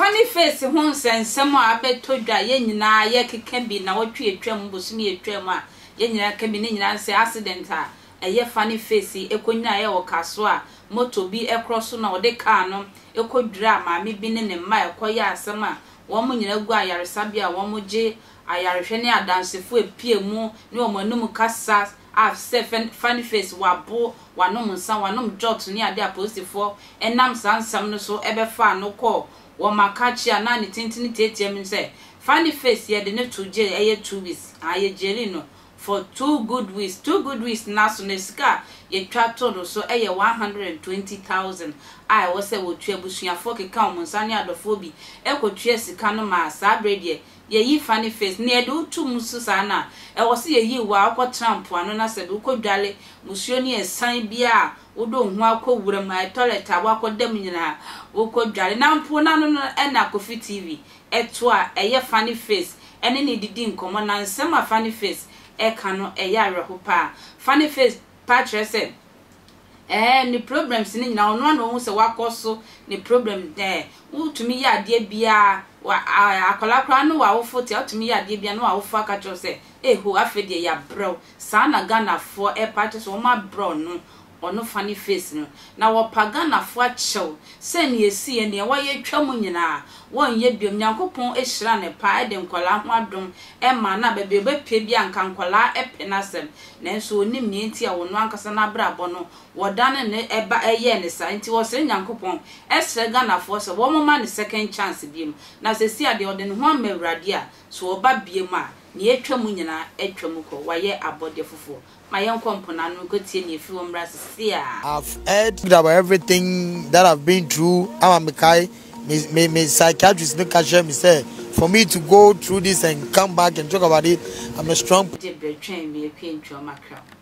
Funny Face ho nsɛnsɛm a abɛtɔ dwa a yɛn nyinaa yɛkeka bi nnawɔtwe a atwam, bosome a atwam a yɛn nyinaa ka bi, ne nyinaa sɛ accident a ɛyɛ fa ne fesi konyinaeɛ wɔ ka so a moto bi korɔ so na ɔde kaa no kɔdwiraa maame bi ne ne mma a ɛkɔyɛɛ asɛm a wɔn nyinaa gu ayaresabea a wɔgye ayarehwɛ ne adansefo a ɛpue mu ne wɔn anom kasa a sɛ fa ne fesi wabo wanom nsa wanom jot ne ade apolisifoɔ nam saa nsɛm no so bɛfaa no kɔɔ wɔ Makachi a na ne tintini teateam sɛ fa ne fesi yɛde no to jail ɛyɛ two weeks haa yɛgyeli no for two good weeks. Two good weeks no aso no, sika a yɛtwa to no so yɛ one hundred and twenty thousand a ɛwɔ sɛ wɔtua. Abusuafoɔ keka wɔn nsa ne adɔfoɔ bi kɔtuaa sika no maa saa berɛ deɛ yɛyi fa ne face. Nea ɛde wo to mu so saa no a, ɛwɔ sɛ yɛyi wo a wokɔtena mpoano na sɛ wokɔdware musuo ne ɛsan biara a, wode wo ho akɔ wuram, toilet a woakɔda mu nyinaa wokɔdware. Na mpo no ano no na Kofi TV ɛto a ɛyɛ Funny Face ne no didi nkɔmmɔ na nsɛm a Funny Face reka no yɛ awerɛho paa. Funny Face taa kyerɛ sɛ ɛɛ ne problems no nyinaa ɔno ara na ɔhu sɛ wakɔ so ne problem ɛɛ wotumi yɛ adeɛ biara wa ɛɛ akwadaa koraa ne w'awofo te a wotumi yɛ adeɛ biara ne w'awofo aka kyerɛ wo sɛ eho afei deɛ yɛabrɛ wo saa na Ghanafoɔ ɛpa kyerɛ sɛ wɔabrɛ ɔno wɔn fa ne face no na wɔpa Ghanafoɔ akyɛw sɛ nea ɛsiiɛ, nea wɔayɛ atwa mu nyinaa wɔnyɛ biom. Nyankopɔn hyiraa no paa de nkwadaa ho adom maa no a baabi a ɔbɛpue biara nka nkwadaa pɛ n'asɛm nanso ɔnim nea nti a ɔno ankasa n'abrabɔ no wɔdane no ɛba ɛyɛɛ no saa nti ɔsrɛ Nyankopɔn srɛ Ghanafoɔ sɛ wɔmma no second chance biom na sɛsi a deɛ ɔde ne ho ama Awurade a sɛ ɔba biom a nea atwa mu nyinaa atwa mu kɔ wayɛ abɔdeɛ foforɔ Ma yɛnkɔ mponaa no nkɔtie nea ɛfiri hɔ mmra seesei ara. I've heard about everything that I've been through ama mekae me me me psychiatrist no ka kyerɛɛ me sɛ for me to go through this and come back and talk about it I'm a strong Gye berɛ twɛn me apue ntwerɛ m'akra mu.